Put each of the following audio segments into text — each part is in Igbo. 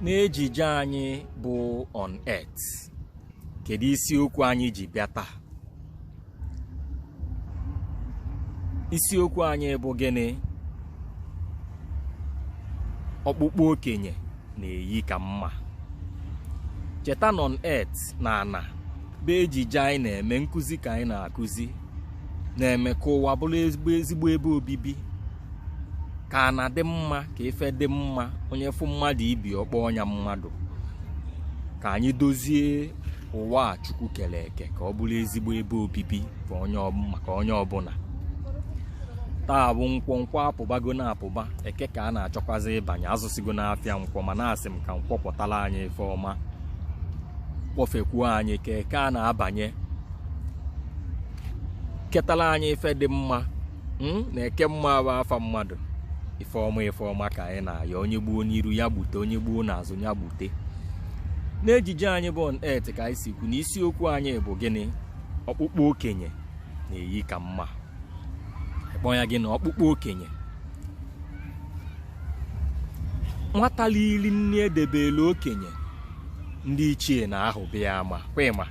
n'ejije anyị bụ on earth kedu isiokwu anyị ji bịa taa isiokwu anyị bụ gịnị ọkpụkpụ okenye na-eyi ka mma cheta na on earth na ana bụ ejije anyị na-eme nkụzi ka anyị na-akụzi na-eme ka ụwa bụrụ ezigbo ebe obibi ka ana dị mma ka ife dị mma onye fụ mmadụ ibe ọ kpọọ nya mmadụ ka anyị dozie ụwa a chukwu kere eke ka ọ bụrụ ezigbo ebe obibi maka onye ọbụla taa bụ nkwọ nkwọ apụbago na apụba eke ka a na-achọkwazi ịbanye azụsigo n'afịa nkwọ mana asị m ka nkwọ kwọtara anyị ife ọma kwọfekwuo anyị ka eke a na-abanye ketara anyị ife dị mma hmm? na ekemma bụ afa mmadụ ife ọma ife ọma ka anyị na-ayọ onye gbuo n'iru ya gbute onye gbuo n'azụ ya gbute n'ejije anyị bụ on earth ka anyị si kwu na isiokwu anyị bụ gịnị ọkpụkpụ okenye na-eyi ka mma ịkpọ ya gị na ọkpụkpụ okenye nwata lili nri edebelụ okenye ndị ichie na-ahụba ya ama kwa ịma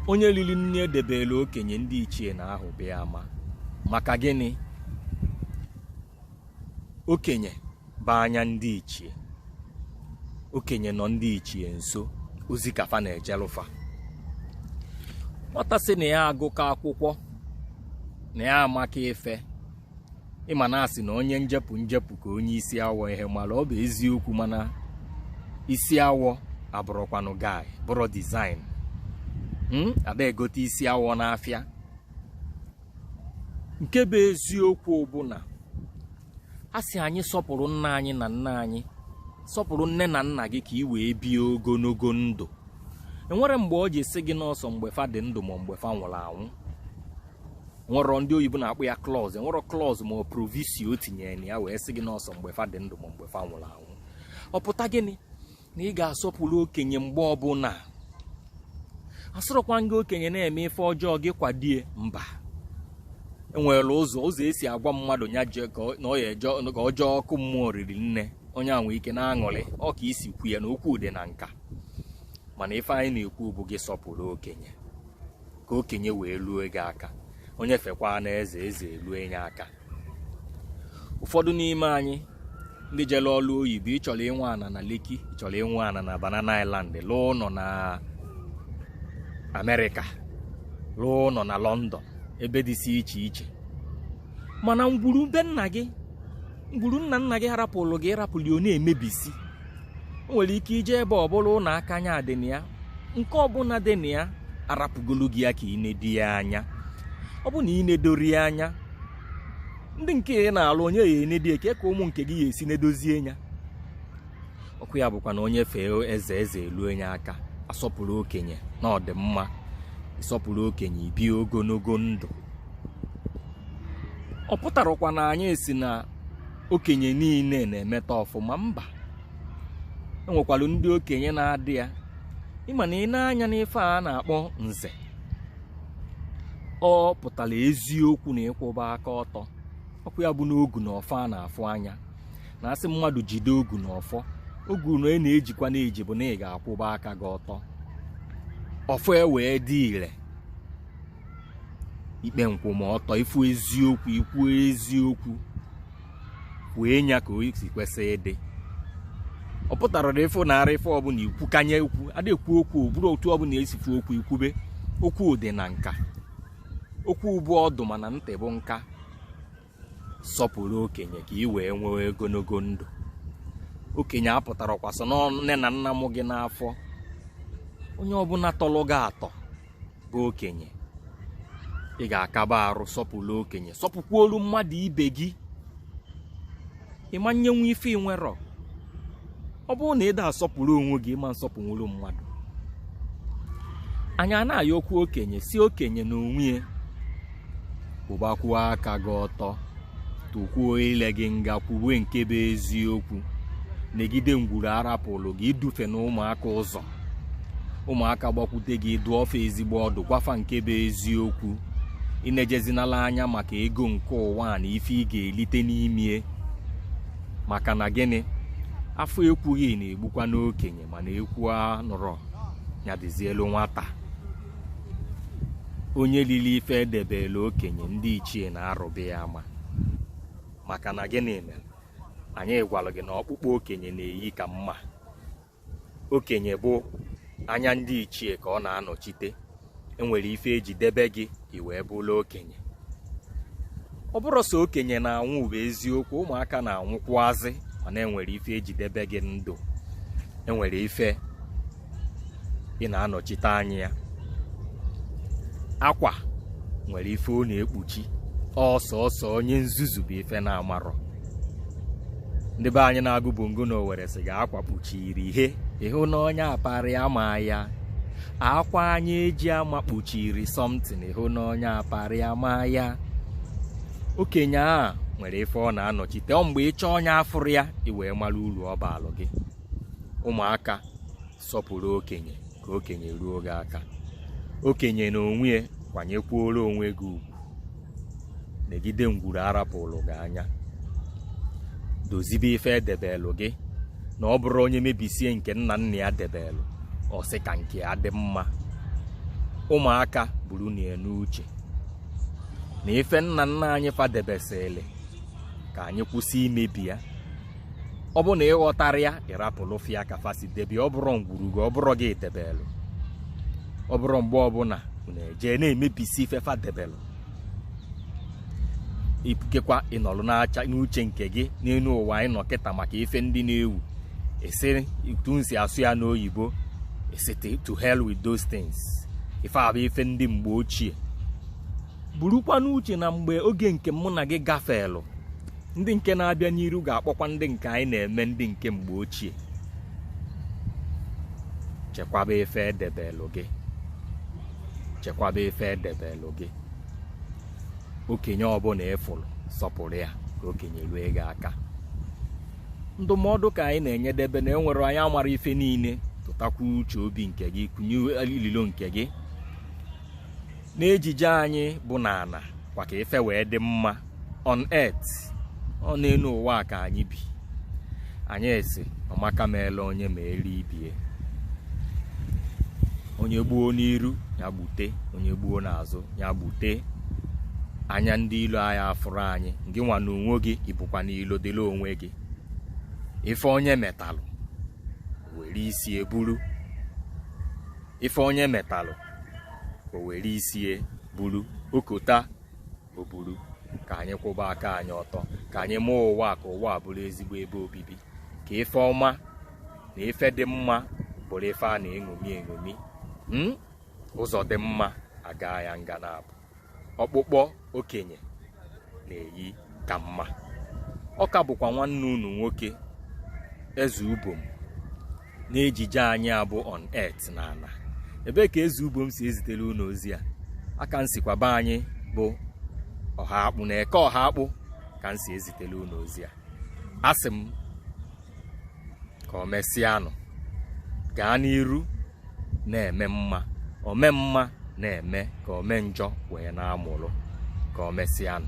onye riri nri edebere okenye ndị ichie na-ahụba ya ama maka gịnị okenye bụ anya ndị ichie okenye nọ ndị ichie nso ozi ka fa na-ejelụ fa nwata sị na ya agụka akwụkwọ na ya amaka ife ị ma na a sị na onye njepụ njepụ ka onye isi awọ ihe mara ọ bụ eziokwu mana isi awọ abụrọkwanụ guy bụrọ design hmm? ada egote isi awọ n'afịa nke bụ eziokwu bụ na a sị anyị sọpụrụ nne anyị na nna anyị sọpụrụ nne na nna gị ka i wee bie ogologo ndụ enwerọ mgbe ọ ji sị gị na ọ sọ mgbe fa dị ndụ ma mgbe fa nwụrụ anwụ nwerọ ndị oyibo na-akpọ ya clause nwerọ clause ma ọ proviso o tinyere na ya wee sị gị na ọ sọ mgbe fa dị ndụ ma mgbe fa nwụrụ anwụ ọ pụta gịnị na ị ga-asọpụrụ okenye mgbe ọbụla asịrọkwa gị okenye na-eme ife ọjọọ gị kwado ya mba enwere ụzọ ụzọ e si agwa mmadụ ya je ka ọ- na ọ ya eje ka ọ jee ọkụ mmụọ riri nne onye a nwee ike na-aṅụrị ọ ka i si kwu ya na okwu dị na nka mana ife anyị na-ekwu bụ gị sọpụrụ okenye ka okenye wee luo gị aka onye fekwanụ eze eze eluo nya aka ụfọdụ n'ime anyị ndị jere ọrụ oyibo ị chọrọ inwe ana na lekki ị chọrọ inwe ana na banana island lụọ ụnọ na amerịka lụọ ụnọ na london ebe dịsị iche iche mana ngwuru be nna gị ngwuru nna nna gị ha rapụlụ gị ị rapụ ya ọ na-emebisi o nwere ike ije ebe ọbụla ụlọ akanya dị na ya nke ọbụla dị na ya arapụgolu gị ya ka ị nedo ya anya ọ bụ na ị nedorọ ya anya ndị nke ị na-alụ onye ya enedo ya kee ka ụmụ nke gị ya esi nedozie ya ọkwa ya bụkwa na onye fee eze eze eluo nya aka asọpụrụ okenye na ọ dị mma ị sọpụrụ okenye i bie ogologo ndụ ọ pụtarakwa na anyị sị na okenye niile na-emeta ọfụma mba enwekwara ndị okenye na-ada ya ị ma na ị nee anya n'ife a na-akpọ nze ọ pụtara eziokwu na ịkwụba aka ọtọ ọkwa ya bụ n'ogu na ọfọ a na-afụ anya na a sị mmadụ jide ogu na ọfọ ogu na ị na-ejikwa na-eji bụ na ị ga-akwụba aka gị ọtọ ọfọ e wee dị ire ikpe nkwụmọtọ ịfụ eziokwu ikwu eziokwu kwue nya ka o si kwesị ịdị ọ pụtara na ịfụ na ara ife ọbụla ikwu kanye ikwu adị ekwu okwu bụrụ otu ọbụla e si fụ okwu i kwube okwu dị na nka okwu bụ ọdụ mana ntị bụ nka sọpụrụ okenye ka ị wee nwee ogologo ndụ okenye apụtarakwa sị na ọ nne na nna mụ gị n'afọ onye ọbụla tọrọ gị atọ bụ okenye ị ga-akaba arụ sọpụrụ okenye sọpụkwuolu mmadụ ibe gị ị ma nyenwu ife ị nwerọ ọ bụrụ na ị da asọpụrụ onwe gị ị ma nsọpụnwuru mmadụ anyị na-ayọkwu okenye sị okenye na onwe ya kwụbakwuo aka gị ọtọ tụkwuo ile gị nga kwuwe nke bụ eziokwu negide ngwuru a rapụlụ gị edufena ụmụaka ụzọ ụmụaka gbakwute gị dụọ fa ezigbo ọdụ gwa fa nke bụ eziokwu enejezinala anya maka ego nke ụwa na ife ị ga-elite n'ime ya maka na gịnị a fụ ekwughị na-egbukwanụ okenye mana ekwu anụrọ ya dịzielu nwata onye lili ife edebelu okenye ndị ichie na-arụba ya ama maka na gịnị mere anyị gwara gị na ọkpụkpọ okenye na-eyi ka mma okenye bụ anya ndị ichie ka ọ na-anọchite enwere ife eji debe gị i wee bụrụ okenye ọ bụrọ sọ okenye na-anwụ bụ eziokwu ụmụaka na-anwụkwuazị mana enwere ife eji debe gị ndụ enwere ife ị na-anọchite anya ya akwa nwere ife ọ na-ekpuchi ọ sọsọ onye nzuzu bụ ife na-amarọ ndị be anyị na-agụ bongo na owere sị gị akwa kpuchiri ihe ịhụ na onye aparị ama ya akwa anyị eji ama kpuchiri something ịhụ na onye aparị ama ya okenye a nwere ife ọ na-anọchite ọ mgbe ịchọọ nya afụrọ ya i wee mara uru ọ baalụ gị ụmụaka sọpụrụ okenye ka okenye ruo gị aka okenye na onwe ya kwanyekwuoro onwe gị ugwu negide ngwuru arapụlụ gị anya dozibe ife edebelụ gị na ọ bụrụ onye mebisie nke nna nna ya debelụ ọ sị ka nke ya dị mma ụmụaka burunụ ya n'uche na ife nna nna anyị fa debesịrị ka anyị kwụsị imebi ya ọ bụ na ịghọtara ya ịrapụlụ fa ya ka fa si debe ọ bụrọ ngwuru gị ọ bụrọ gị debelụ ọ bụrụ mgbe ọbụna na-eje na-emebisi ife fa debelụ ikekwa ịnọlụ na-eche n'uche nke gị n'enu ụwa anyị nọ kịta maka ife ndị na-ewu ị sị etu m si asụ ya n'oyibo ị sị to hell with those things ife a bụ ife ndị mgbe ochie burukwa n'uche na mgbe oge nke mụ na gị gafelụ ndị nke na-abịa n'iru ga-akpọkwa ndị nke anyị na-eme ndị nke mgbe ochie chekwaba ife edebelụ gị chekwaba ife edebelụ gị okenye ọbụna ịfụlụ sọpụrụ ya ka okenye rue gị aka ndụmọdụ ka anyị na-enyedebe na enwerọ onye maara ife niile tụtakwa uche obi nke gị kụnye ililo nke gị n'ejije anyị bụ n'ana kwa ka ife wee dị mma on earth ọ n'enu ụwa ka anyị bi anyị sị ọmaka meela onye ma eri ibie onye gbuo n'iru nya gbute onye gbuo n'azụ nya gbute anya ndị ilo anyị afụrọ anyị gị nwa na onwe gị ebukwana ilo dịlị onwe gị ife onye metalụ were isie buru ife onye metalụ o were isie buru o kota o buru ka anyị kwụba aka anyị ọtọ ka anyị mee ụwa ka ụwa bụrụ ezigbo ebe obibi ka ife ọma na ife dị mma bụrụ ife a na-eṅomi eṅomi hmm? ụzọ dị mma a gaa ya nga naabọ ọkpụkpọ okenye na-eyi ka mma ọ ka bụkwa nwanne unu nwoke eze ubom n'ejije anyị a bụ on earth na ana ebee ka eze ubom si ezitere unu ozi a aka m sikwa be anyị bụ ohakpu na eke ohakpu ka m si ezitere unu ozi a asị m ka o mesịanụ gaa n'iru na-eme mma ome mma na-eme ka ome njọ wee na-amụrụ ka o mesịanụ